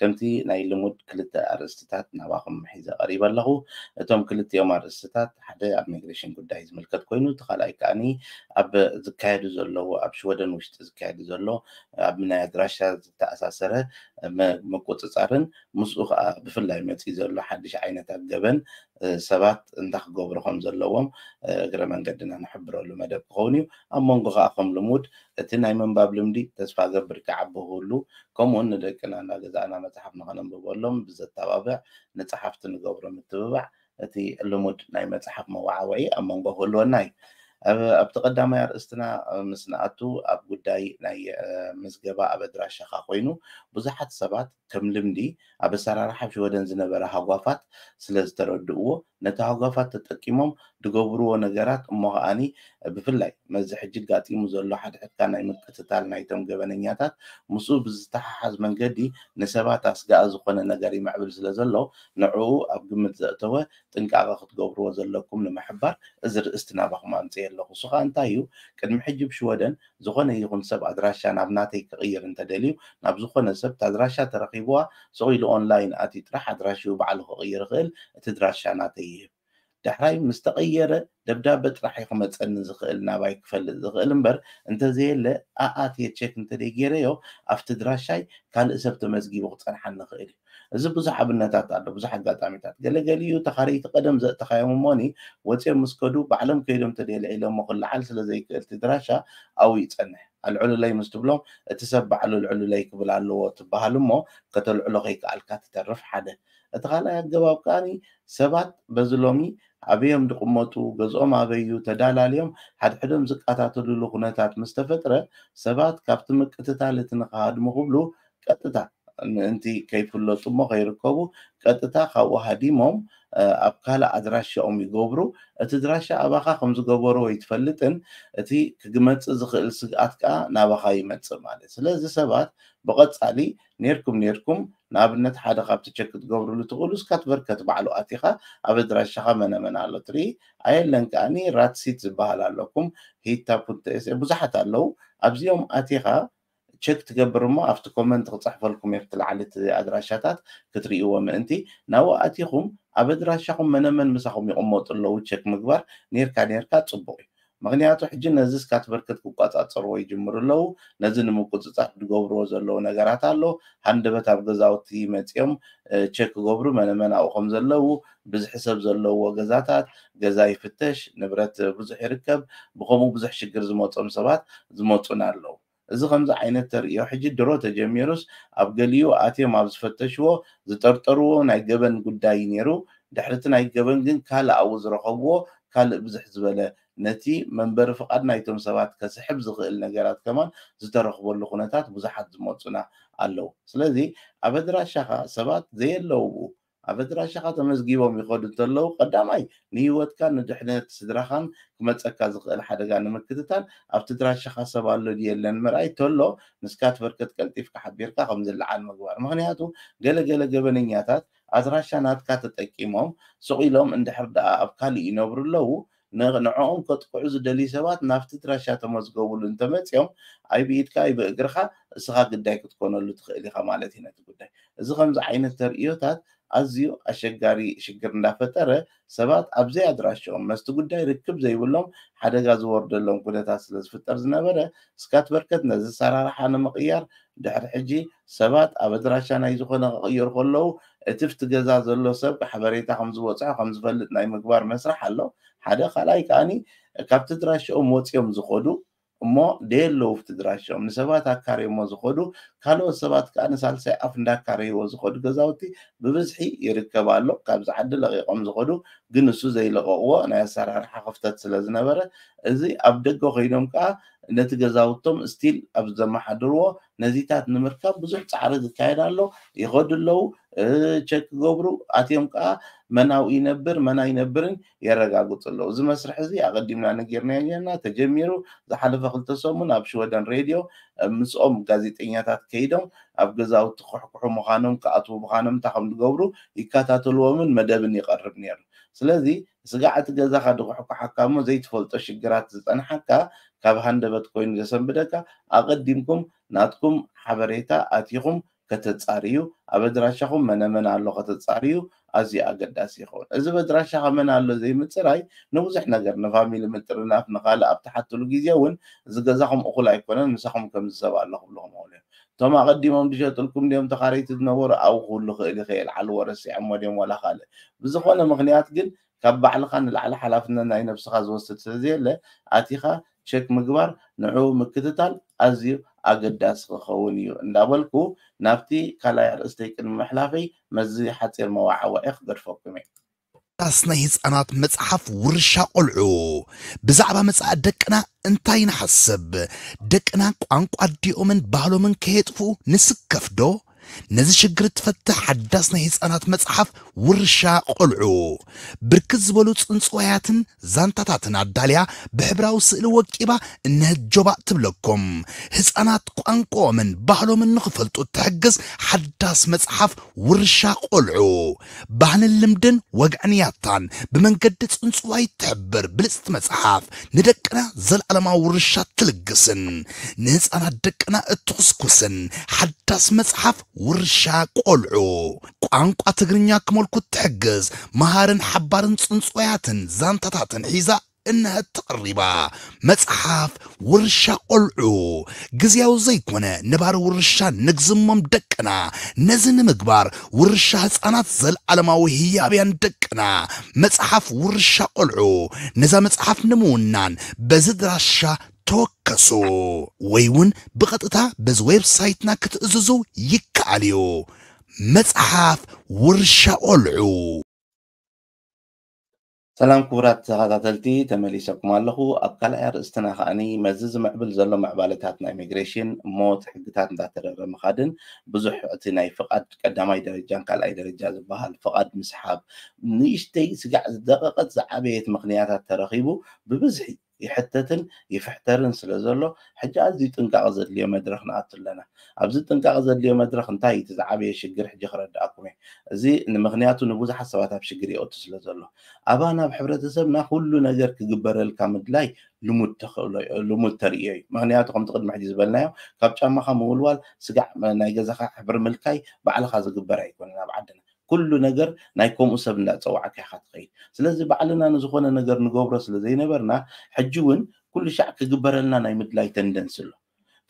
ከምቲ ናይ ልሙድ ክልተ ኣርእስትታት ናባኹም ሒዘ ቀሪበ ኣለኹ። እቶም ክልቲኦም ኣርእስትታት ሓደ ኣብ ሚግሬሽን ጉዳይ ዝምልከት ኮይኑ እቲ ካልኣይ ከኣ ኣብ ዝካየዱ ዘለዉ ኣብ ሽወደን ውሽጢ ዝካየዱ ዘሎ ኣብ ናይ ኣድራሻ ዝተኣሳሰረ ምቁጽጻርን ምስኡ ከኣ ብፍላይ መጺኡ ዘሎ ሓድሽ ዓይነታት ገበን ሰባት እንታይ ክገብሩ ከም ዘለዎም እግረ መንገድና ንሕብረሉ መደብ ክኸውን እዩ። ኣብ መንጎ ከኣ ከም ልሙድ እቲ ናይ ምንባብ ልምዲ ተስፋ እገብር ክዓቢ ክህሉ ከምኡውን ንደቅና እናገዛእና መጽሓፍ ንኸነንብበሎም ብዘተባብዕ ንጸሓፍቲ ንገብሮ ምትብባዕ እቲ ልሙድ ናይ መጽሓፍ መወዓውዒ ኣብ መንጎ ክህልወና እዩ። ኣብቲ ቀዳማይ ኣርእስትና ምስ ንኣቱ ኣብ ጉዳይ ናይ ምዝገባ ኣብ ኣድራሻኻ ኮይኑ ብዙሓት ሰባት ከም ልምዲ፣ ኣብ ኣሰራርሓ ሽወደን ዝነበረ ሃጓፋት ስለ ዝተረድእዎ፣ ነቲ ሃጓፋት ተጠቂሞም ድገብርዎ ነገራት እሞ ከኣኒ ብፍላይ መዚ ሕጂ ኣጋጢሙ ዘሎ ሓድሕድካ ናይ ምቅትታል ናይቶም ገበነኛታት ምስኡ ብዝተሓሓዝ መንገዲ ንሰባት ኣስጋኢ ዝኾነ ነገር ይምዕብል ስለ ዘሎ ንዕኡ ኣብ ግምት ዘእተወ ጥንቃቐ ክትገብርዎ ዘለኩም ንምሕባር እዚ ርእስቲ ናባኹም ኣምጺኤ ኣለኹ። እሱ ከኣ እንታይ እዩ ቅድሚ ሕጂ ብ ሽወደን ዝኾነ ይኹን ሰብ ኣድራሻ ናብ ናተይ ክቕይር እንተደልዩ ናብ ዝኾነ ሰብ ታድራሻ ተረኪብዋ ሱቕ ኢሉ ኦንላይን ኣትዩ ጥራሕ ኣድራሽኡ ባዕሉ ክቕይር ይኽእል እቲ ድራሻ ናተይ ይህብ ዳሕራይ ምስ ተቐየረ ደብዳበ ጥራሕ እዩ ክመጸኒ ዝኽእል ናባይ ክፈልጥ ዝኽእል እምበር እንተዘየለ ኣኣትየ ቸክ እንተደይ ጌረዮ ኣብቲ ድራሻይ ካልእ ሰብ ተመዝጊቡ ክጸንሓኒ ይኽእል እዩ። እዚ ብዙሕ ኣብነታት ኣሎ ብዙሕ ኣጋጣሚታት ገለ ገሊኡ ተኻረይቲ ቀደም ዘእተኻዮም እሞኒ ወጺኦም ምስ ከዱ ባዕሎም ከይዶም ተድየ ኣልዒሎሞ ክልዓል ስለ ዘይክእል እቲ ድራሻ ኣብኡ ይጸንሕ ኣልዕሉለይ ምስ ትብሎም እቲ ሰብ ባዕሉ ኣልዕሉለይ ክብል ኣለዎ ትብሃል እሞ ከተልዕሎ ከይከኣልካ ትተርፍ ሓደ እቲ ካልኣይ ኣገባብ ከኣ ሰባት በዚ ሎሚ ኣበዮም ድቕመጡ ገዝኦም ኣበይ እዩ ተዳላልዮም ሓድሕዶም ዝቃታተሉሉ ኩነታት ምስ ተፈጥረ ሰባት ካብቲ ምቅትታል እቲ ንክሃድሙ ክብሉ ቀጥታ ምእንቲ ከይፍለጡ እሞ ከይርከቡ ቀጥታ ካብኡ ሃዲሞም ኣብ ካልእ ኣድራሻኦም ይገብሩ። እቲ ኣድራሻ ኣባኻ ከም ዝገበሩ ኣይትፈልጥን፣ እቲ ክግመጽእ ዝኽእል ስግኣት ከኣ ናባኻ ይመጽእ ማለት እዩ። ስለዚ ሰባት ብቐጻሊ ኔርኩም ኔርኩም ንኣብነት ሓደ ካብቲ ቸክ ክትገብርሉ ትኽእሉ ስካትቨርከት ባዕሉ ኣቲኻ ኣብ ኣድራሻኻ መነ መን ኣሎ ትርኢ፣ ኣየለን ከኣ ራትሲት ዝበሃል ኣሎ፣ ኩም ሂታ ፑንተ ኤሰ ብዙሓት ኣለዉ፣ ኣብዚኦም ኣቲኻ ቸክ ትገብር እሞ ኣብቲ ኮመንት ክጽሕፈልኩም እየ ኣብቲ ላዕሊ እቲ ኣድራሻታት ክትርእይዎ ምእንቲ ናብኡ ኣቲኹም ኣብ ኣድራሻኹም መነመን ምሳኹም ይቕመጡ ኣለዉ ቸክ ምግባር ኔርካ ኔርካ ጽቡቕ እዩ ምኽንያቱ ሕጂ ነዚ ስካት ብርክት ክቆጻጸርዎ ይጅምሩ ኣለዉ ነዚ ንምቁጽጻር ድገብርዎ ዘለዉ ነገራት ኣሎ ሃንደበት ኣብ ገዛውቲ መጽዮም ቸክ ክገብሩ መነመን ኣብኡ ከም ዘለዉ ብዝሒ ሰብ ዘለውዎ ገዛታት ገዛ ይፍተሽ፣ ንብረት ብዙሕ ይርከብ፣ ብኸምኡ ብዙሕ ሽግር ዝመጾም ሰባት ዝመጹና ኣለው። እዚ ከምዚ ዓይነት ተርእዮ ሕጂ ድሮ ተጀሚሩስ ኣብ ገሊኡ ኣትዮም ኣብ ዝፈተሽዎ ዝጠርጠርዎ ናይ ገበን ጉዳይ እዩ ነይሩ፣ ድሕሪቲ ናይ ገበን ግን ካልእ ኣብኡ ዝረኸብዎ ካልእ ብዝሕ ዝበለ ነቲ መንበሪ ፍቓድ ናይቶም ሰባት ከስሕብ ዝኽእል ነገራት ከማን ዝተረኽበሉ ኩነታት ብዙሓት ዝመጹና ኣለው። ስለዚ ኣብ ኣድራሻኻ ሰባት ዘየለውብኡ ኣብ ኣድራሻኻ ተመዝጊቦም ይኸዱ እንተለዉ፣ ቀዳማይ ንህይወትካን ንድሕነት ስድራኻን ክመጸካ ዝኽእል ሓደጋ ንምክትታል ኣብቲ ኣድራሻኻ ሰብ ኣሎ ድዩ የለን ምርኣይ፣ ተሎ ንስካትቨርከት ቀልጢፍካ ሓቢርካ ከም ዝለዓል ምግባር። ምኽንያቱ ገለ ገለ ገበነኛታት ኣድራሻ ናትካ ተጠቂሞም ሱቕ ኢሎም እንድሕር ደኣ ኣብ ካልእ ይነብሩ ኣለዉ ንዕኦም ከጥቅዑ ዝደልዩ ሰባት ናብቲ ድራሻ ተመዝገቡሉ እንተመጺኦም ኣይ ብኢድካ ኣይ ብእግርኻ እስኻ ግዳይ ክትኮነሉ ትኽእል ኢኻ ማለት እዩ ነቲ ጉዳይ። እዚ ከምዚ ዓይነት ተርእዮታት ኣዝዩ ኣሸጋሪ ሽግር እንዳፈጠረ ሰባት ኣብ ዘይኣድራሽኦም መስቲ ጉዳይ ርክብ ዘይብሎም ሓደጋ ዝወርደሎም ኩነታት ስለዝፍጠር ዝነበረ ስካትበርከት ነዚ ኣሰራርሓ ንምቕያር ድሕሪ ሕጂ ሰባት ኣብ ኣድራሻ ናይ ዝኾነ ክቕይሩ ከለዉ እቲ ኣብቲ ገዛ ዘሎ ሰብ ሓበሬታ ከም ዝበጽሖ ከም ዝፈልጥ ናይ ምግባር መስርሕ ኣሎ ሓደ ካልኣይ ከኣ ካብቲ ኣድራሽኦም ወጺኦም ዝኸዱ እሞ ደየለዉ ኣብቲ ኣድራሽኦም ንሰባት ኣካርዮሞ ዝኸዱ ካልኦት ሰባት ከኣ ንሳልሳይ ኣፍ እንዳካረይዎ ዝኸዱ ገዛውቲ ብብዝሒ ይርከብ ኣሎ ካብዚ ዓዲ ለቒቖም ዝኸዱ ግን ንሱ ዘይለቐቕዎ ናይ ኣሰራርሓ ክፍተት ስለ ዝነበረ እዚ ኣብ ደገ ኮይኖም ከኣ ነቲ ገዛውቶም ስቲል ኣብ ዘመሓድርዎ ነዚታት ንምርካብ ብዙሕ ጻዕሪ ዝካየድ ኣሎ፣ ይኸዱ ኣለዉ፣ ቸክ ክገብሩ ኣትዮም ከኣ መን ኣብኡ ይነብር መን ኣይነብርን የረጋግጹ ኣለዉ። እዚ መስርሕ እዚ ኣቐዲምና ነጊርናዮም ኔርና፣ ተጀሚሩ፣ ዝሓለፈ ክልተ ሰሙን ኣብ ሽወደን ሬድዮ ምስኦም ጋዜጠኛታት ከይዶም ኣብ ገዛውቲ ክኩሕኩሑ ምዃኖም ክኣትዉ ምዃኖም እንታይ ከም ዝገብሩ ይከታተልዎምን መደብን ይቐርብ ኔሩ። ስለዚ ስጋዕ እቲ ገዛኻ ድኹሕኩሓካ እሞ ዘይትፈልጦ ሽግራት ዝጸንሓካ ካብ ሃንደበት ኮይኑ ዘሰንብደካ ኣቐዲምኩም ናትኩም ሓበሬታ ኣቲኹም ከተጻርዩ ኣብ ኣድራሻኹም መነ መን ኣሎ ከተጻርዩ ኣዝዩ ኣገዳሲ ይኸውን። እዚ በድራሻኻ መን ኣሎ ዘይምጽራይ ንብዙሕ ነገር ንፋሚሊ ምጥርናፍ ንኻልእ ኣብ ትሓትሉ ግዜ እውን እዚ ገዛኹም እኹል ኣይኮነን ምሳኹም ከምዚ ሰብ ኣሎ ክብልኹም ይኽእሉ እዮም። እቶም ኣቀዲሞም ድሸጥልኩም ድዮም ተካረይቲ ዝነበሩ ኣው ክብሉ ክእል ኢከ የልዓልዎ ረሲዐሞ ድዮም ዋላ ካልእ ብዝኮነ ምክንያት ግን ካብ ባዕልካ ንላዕሊ ሓላፍነት ናይ ነብስካ ዝወስድ ስለዘየለ ኣቲካ ቸክ ምግባር ንዕኡ ምክትታል ኣዝዩ ኣገዳሲ ክከውን እዩ እንዳበልኩ ናብቲ ካልኣይ ኣርእስተይ ቅድሚ ምሕላፈይ መዚ ሓጺር መዋዓወዒ ክገድፈኩም እየ። ዳስ ናይ ህጻናት መጽሓፍ ውርሻ ቆልዑ ብዛዕባ መጻኢ ደቅና እንታይ ንሓስብ? ደቅና ቋንቋ ኣዲኦምን ባህሎምን ከየጥፍኡ ንስከፍ ዶ? ነዚ ሽግር እትፈትሕ ሓዳስ ናይ ህጻናት መጽሓፍ ውርሻ ቆልዑ ብርክት ዝበሉ ጽንጽዋያትን ዛንታታትን ኣዳልያ ብሕብራዊ ስእሊ ወቂባ እነህት ጆባእ ትብለኩም። ህጻናት ቋንቋኦምን ባህሎምን ንኽፈልጡ እትሕግዝ ሓዳስ መጽሓፍ ውርሻ ቆልዑ ባህልን ልምድን ወግዕን ያታን ብመንገዲ ጽንጽዋይ እትሕብር ብልጽቲ መጽሓፍ ንደቅና ዘለኣለማዊ ውርሻ እትልግስን ንህፃናት ደቅና እትኹስኩስን ሓዳስ መጽሓፍ ውርሻ ቆልዑ ቋንቋ ትግርኛ ክመልኩ እትሕግዝ መሃርን ሓባርን ጽንጽዋያትን ዛንታታትን ሒዛ እነተቕሪባ መጽሓፍ ውርሻ ቆልዑ ግዝያዊ ዘይኮነ ነባሪ ውርሻ ንግዝሞም ደቅና ነዚ ንምግባር ውርሻ ህጻናት ዘልዓለማዊ ህያብያን ደቅና መጽሓፍ ውርሻ ቆልዑ ነዛ መጽሓፍ ንምውናን በዚ ድራሻ ተወከሱ ወይ እውን ብቐጥታ በዚ ዌብ ሳይትና ክትእዝዙ ይከኣል እዩ መጽሓፍ ውርሻ ቆልዑ ሰላም ክቡራት ተኻታተልቲ ተመሊሰኩም ኣለኹ ኣብ ካልኣይ ኣርእስትና ከኣኒ መዚ ዝምዕብል ዘሎ ምዕባለታት ናይ ሚግሬሽን ሞት ሕግታት እንዳተረረ ምኻድን ብዙሕ እቲ ናይ ፍቓድ ቀዳማይ ደረጃን ካልኣይ ደረጃ ዝበሃል ፍቓድ ምስሓብ ንእሽተይ ስጋዕ ዝደቐቐት ዝዓበየት ምኽንያታት ተረኺቡ ብብዝሒ ይሕተትን ይፍሕተርን ስለ ዘሎ ሕጂ ኣዝዩ ጥንቃቐ ዘድልዮ መድረኽ ንኣቱ ኣለና። ኣብዚ ጥንቃቐ ዘድልዮ መድረኽ እንታይ እዩ እቲ ዝዓበየ ሽግር ሕጂ ክረድኣኩም እየ። እዚ ንምኽንያቱ ንብዙሓት ሰባት ኣብ ሽግር የእቱ ስለ ዘሎ። ኣባና ኣብ ሕብረተሰብና ኩሉ ነገር ክግበረልካ ምድላይ ልሙድ ተኽእሎ እዩ ልሙድ ተርእዮ እዩ። ምኽንያቱ ከምቲ ቅድሚ ሕጂ ዝበልናዮ ካብ ጫማኻ ምውልዋል፣ ስጋዕ ናይ ገዛኻ ሕብሪ ምልካይ ባዕልኻ ዝግበር ኣይኮነን ኣብ ዓድና። ኩሉ ነገር ናይ ከምኡ ሰብ እንዳጸዋዕካ ኢኻ ትኸይድ ስለዚ ባዕልና ንዝኾነ ነገር ንገብሮ ስለ ዘይነበርና ሕጂ ውን ኩሉ ሻዕ ክግበረልና ናይ ምድላይ ተንደንሲ ኣሎ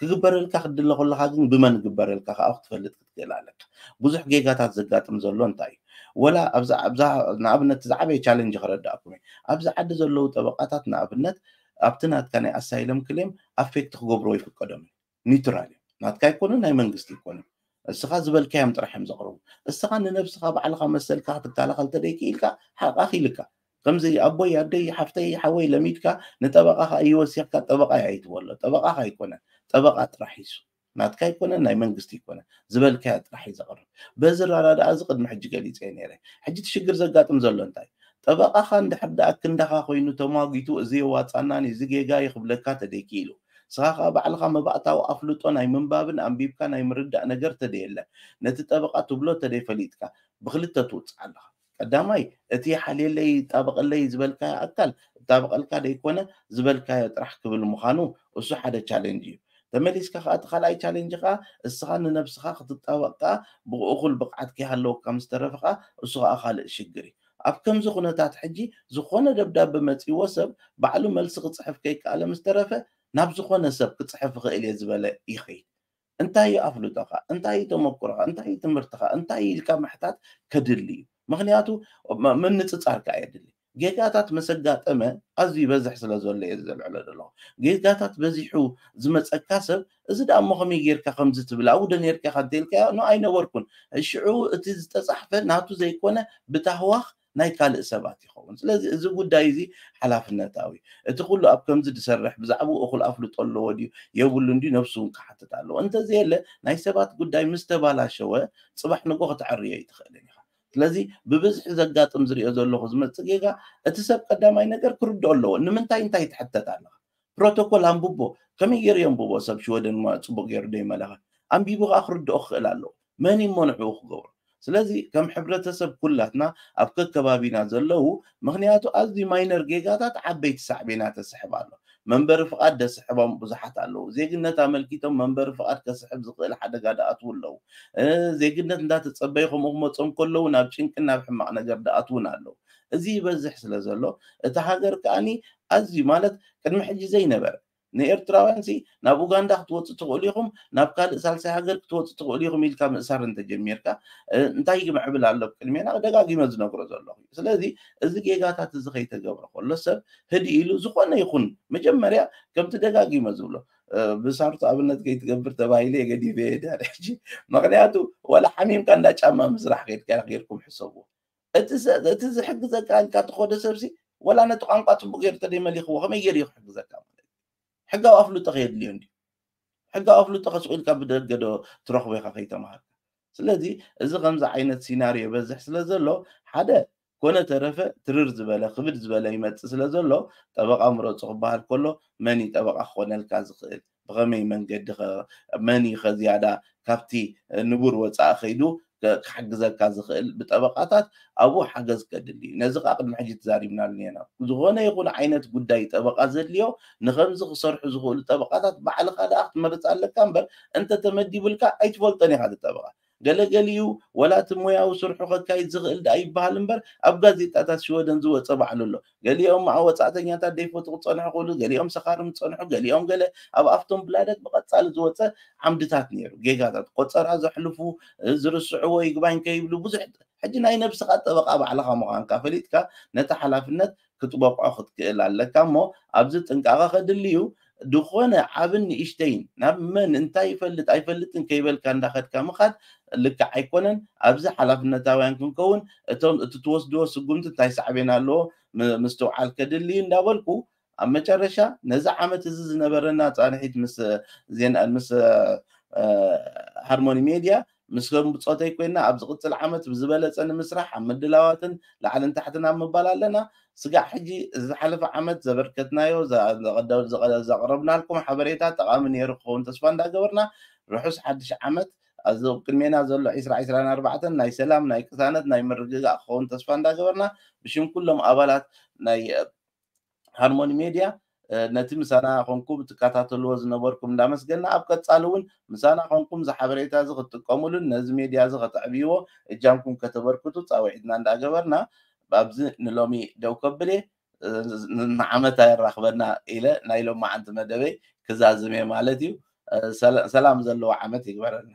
ክግበረልካ ክትድለ ከለኻ ግን ብመን ይግበረልካ ከኣ ክትፈልጥ ክትክእል ኣለካ ብዙሕ ጌጋታት ዘጋጥም ዘሎ እንታይ እዩ ወላ ኣብዛ ኣብዛ ንኣብነት ዝዓበየ ቻለንጅ ከረዳእኩም እየ ኣብዚ ዓዲ ዘለዉ ጠበቃታት ንኣብነት ኣብቲ ናትካ ናይ ኣሳይለም ክሌም ኣፌክት ክገብርዎ ይፍቀዶም እዩ ኒውትራል እዮም ናትካ ኣይኮኑን ናይ መንግስቲ ኣይኮኑን እስኻ ዝበልካዮም ጥራሕ እዮም ዘቕርቡ እስኻ ንነብስኻ ባዕልኻ መሰልካ ክትከላኸል ተደይክኢልካ ሓቕኻ ክኢልካ ከምዚ ኣቦይ ኣደይ ሓፍተይ ሓወይ ለሚድካ ንጠበቃ ከዓ ይወሲኽካ ጠበቃ ኣይትበሎ ጠበቃ ኣይኮነ ጠበቃ ጥራሕ ይሱ ናትካ ይኮነ ናይ መንግስቲ ይኮነ ዝበልካያ ጥራሕ እዩ ዘቕርብ በዚ ራዳድኣ እዚ ቅድሚ ሕጂ ገሊፀ ነይረ ሕጂ እቲ ሽግር ዘጋጥም ዘሎ እንታይ ጠበቃኻ እንድሕር ደኣ ክንዳኻ ኮይኑ ተሟጊቱ እዚ የዋፃናን እዚ ጌጋ ይኽብለካ ተደይኪኢሉ ንስኻ ከኣ ባዕልኻ መባእታዊ ኣፍልጦ ናይ ምንባብን ኣንቢብካ ናይ ምርዳእ ነገር ተደየለ፣ ነቲ ጠበቓ ትብሎ ተደይፈሊጥካ፣ ብኽልተ ትውጽዓ ኣለኻ። ቀዳማይ፣ እቲ ይሓልየለይ ይጣበቐለይ ዝበልካዮ ኣካል፣ እጣበቐልካ ደይኮነ፣ ዝበልካዮ ጥራሕ ክብል ምዃኑ፣ እሱ ሓደ ቻለንጅ እዩ። ተመሊስካ ከኣ እቲ ካልኣይ ቻለንጅ ከኣ፣ እስኻ ንነብስኻ ክትጣበቕ ከኣ ብእኹል ብቕዓት ከይሃለወካ ምስ ተረፍኻ፣ እሱ ከኣ ካልእ ሽግር እዩ። ኣብ ከምዚ ኩነታት ሕጂ ዝኾነ ደብዳበ መጺእዎ ሰብ ባዕሉ መልሲ ክጽሕፍ ከይከኣለ ምስ ተረፈ ናብ ዝኾነ ሰብ ክጽሕፍ እኽእል እየ ዝበለ ይኸይድ። እንታይ እዩ ኣፍልጦኻ? እንታይ እዩ ተመኩሮኻ? እንታይ እዩ ትምህርትኻ? እንታይ እዩ ኢልካ ምሕታት ከድሊ እዩ። ምኽንያቱ ምንጽጻር ከኣ የድሊ። ጌጋታት ምስ ኣጋጠመ ኣዝዩ ይበዝሕ ስለ ዘሎ እየ እዚ ዘልዕሎ ዘለኹ። ጌጋታት በዚሑ ዝመጸካ ሰብ እዚ ደኣ እሞ ከመይ ጌርካ ከምዚ ትብል ኣብኡዶ ኔርካ ኢኻ እንተኢልካዮ ን ኣይነበርኩን ሽዑ እቲ ዝተጻሕፈ ናቱ ዘይኮነ ብታህዋኽ ናይ ካልእ ሰባት ይኸውን ስለዚ እዚ ጉዳይ እዚ ሓላፍነታዊ እቲ ኩሉ ኣብ ከምዚ ድሰርሕ ብዛዕብኡ እኹል ኣፍልጦ ኣለዎ ድዩ የብሉን ድዩ ነብሱ ውን ክሓትት ኣለዎ እንተዘየለ ናይ ሰባት ጉዳይ ምስ ተባላሸወ ጽባሕ ንግሆ ከተዐርዮ ኣይትኽእልን ኢኻ ስለዚ ብብዝሒ ዘጋጥም ዝሪኦ ዘለኹ ዝመጽእ ጌጋ እቲ ሰብ ቀዳማይ ነገር ክርድኦ ኣለዎ ንምንታይ እንታይ ትሕተት ኣለኻ ፕሮቶኮል ኣንብቦ ከመይ ጌሩ የንብቦ ሰብ ሽወደን እሞ ጽቡቅ ጌሩ ዶ ይመለኸ ኣንቢቡ ከኣ ክርድኦ ክኽእል ኣለዎ መን እዩ እሞ ንዕኡ ክገብሮ ስለዚ ከም ሕብረተሰብ ኩላትና ኣብ ከከባቢና ዘለዉ ምኽንያቱ ኣዝዩ ማይነር ጌጋታት ዓበይቲ ሳዕቤናት የስሕብ ኣሎ መንበሪ ፍቃድ ደስሕቦም ብዙሓት ኣለዉ ዜግነት ኣመልኪቶም መንበሪ ፍቃድ ከስሕብ ዝኽእል ሓደጋ ደኣትዉ ኣለዉ ዜግነት እንዳተጸበዩ ከምኡ ክመጾም ከለዉ ናብ ጭንቅን ናብ ሕማቅ ነገር ደኣትዉን ኣለዉ እዚ ይበዝሕ ስለ ዘሎ እታ ሃገር ከኣ ኣዝዩ ማለት ቅድሚ ሕጂ ዘይነበረ ንኤርትራውያንሲ ናብ ኡጋንዳ ክትወጹ ትኽእሉ ኢኹም ናብ ካልእ ሳልሳይ ሃገር ክትወጹ ትኽእሉ ኢኹም ኢልካ ምእሳር እንተጀሚርካ እንታይ ይምዕብል ኣሎ ኣብ ቅድሜና ደጋጊመ ዝነግሮ ዘለኹ እዩ ስለዚ እዚ ጌጋታት እዚ ከይተገብረ ከሎ ሰብ ህዲ ኢሉ ዝኾነ ይኹን መጀመርያ ከምቲ ደጋጊመ ዝብሎ ብሳርቱ ኣብነት ከይትገብር ተባሂለ የገዲፈ የዳ ሕጂ ምክንያቱ ወላ ሓሚምካ እንዳ ጫማ ምስራሕ ከድካ ጌርኩም ሕሰቡ እቲ ዝሕግዘካ ኢልካ እተኾደ ሰብሲ ወላ ነቲ ቋንቋ ጽቡቕ ገይሩ ተደይመሊኽዎ ከመይ ገይሩ እዩ ክሕግዘካ ማለት እዩ። ሕጋዊ ኣፍልጦ ከየድልዮ እንድዩ። ሕጋዊ ኣፍልጦ ከ ሱቕ ኢልካ ብደገ ዶ ትረኽቦ ኢኻ ከይተማሃርካ። ስለዚ እዚ ከምዚ ዓይነት ሲናርዮ ይበዝሕ ስለ ዘሎ ሓደ ኮነ ተረፈ ትርር ዝበለ ክብድ ዝበለ ይመጽእ ስለ ዘሎ ጠበቓ ምረጹ ክበሃል ከሎ መን እዩ ጠበቓ ክኾነልካ ዝኽእል? ብኸመይ መንገዲኸ? መን እዩ ከ ዝያዳ ካብቲ ንቡር ወጻኢ ከይዱ ክሕግዘካ ዝኽእል? ብጠበቓታት ኣብኡ ሓገዝ ከድሊ እዩ። ነዚ ከኣ ቅድሚ ሕጂ ተዛሪብናሉ ኔና። ዝኾነ ይኹን ዓይነት ጉዳይ ጠበቓ ዘድልዮ፣ ንኸምዚ ክሰርሑ ዝኽእሉ ጠበቓታት ባዕልኻ ደኣ ክትመርጽ ኣለካ እምበር፣ እንተ ተመዲቡልካ ኣይትፈልጦን ኢኻ እቲ ጠበቓ። ገለ ገሊኡ ዋላ እቲ ሞያዊ ስርሑ ከካይድ ዝኽእል ደኣ ይበሃል እምበር ኣብ ጋዜጣታት ሽወደን ዝወጸ ባዕሉ ኣሎ። ገሊኦም መዓ ወጻእተኛታት ደይፈትዉ ክጸንሑ ክእሉ፣ ገሊኦም ሰኻርም ዝጸንሑ፣ ገሊኦም ገለ ኣብ ኣፍቶንብላደት ብቐጻሊ ዝወጸ ዓምድታት ነይሩ። ጌጋታት ቆጸራ ዘሕልፉ፣ ዝርስዕዎ ይግባኝ ከይብሉ ብዙሕ ሕጂ ናይ ነብስኻ ጠበቓ ባዕልኻ ምዃንካ ፈሊጥካ ነቲ ሓላፍነት ክትበቕዖ ክትክእል ኣለካ እሞ ኣብዚ ጥንቃቐ ከድሊ እዩ። ድኾነ ዓብን ንእሽተይን ናብ መን እንታይ ይፈልጥ ኣይፈልጥን ከይበልካ እንዳኸድካ ምኻድ ልክዕ ኣይኮነን። ኣብዚ ሓላፍነታውያን ክንከውን እቶም እቲ ትወስድዎ ስጉምቲ እንታይ ሳዕቤን ኣለዎ ምስትውዓል ከድሊ እዩ እንዳበልኩ ኣብ መጨረሻ ነዚ ዓመት እዚ ዝነበረና ፃንሒት ምስ ዜና ምስ ሃርሞኒ ሜድያ ምስ ከም ብጾተይ ኮይና ኣብ ዝቕጽል ዓመት ብዝበለጸ ንምስራሕ ኣብ ምድላዋትን ላዕልን ታሕትን ኣብ ምባል ኣለና። ስጋዕ ሕጂ እዚ ዝሓለፈ ዓመት ዘበርከትናዮ ዘቕረብናልኩም ሓበሬታ ጠቓሚ ኔሩ ክኸውን ተስፋ እንዳገበርና ርሑስ ሓድሽ ዓመት ኣዚ ኣብ ቅድሜና ዘሎ ዕስራ ዕስራን ኣርባዕተን ናይ ሰላም ናይ ቅሳነት ናይ ምርግጋእ ክኸውን ተስፋ እንዳገበርና ብሽም ኩሎም ኣባላት ናይ ሃርሞኒ ሜድያ ነቲ ምሳና ኮንኩም ትከታተልዎ ዝነበርኩም እንዳመስገና ኣብ ቀጻሊ እውን ምሳና ኮንኩም እዚ ሓበሬታ እዚ ክትጥቀሙሉን ነዚ ሜድያ እዚ ከተዕብይዎ እጃምኩም ከተበርክቱ ጻውዒትና እንዳገበርና ኣብዚ ንሎሚ ደው ከብል እየ ንዓመት ኣየራኽበና ኢለ ናይ ሎማዓንቲ መደበይ ክዛዝም እየ ማለት እዩ ሰላም ዘለዎ ዓመት ይግበረልና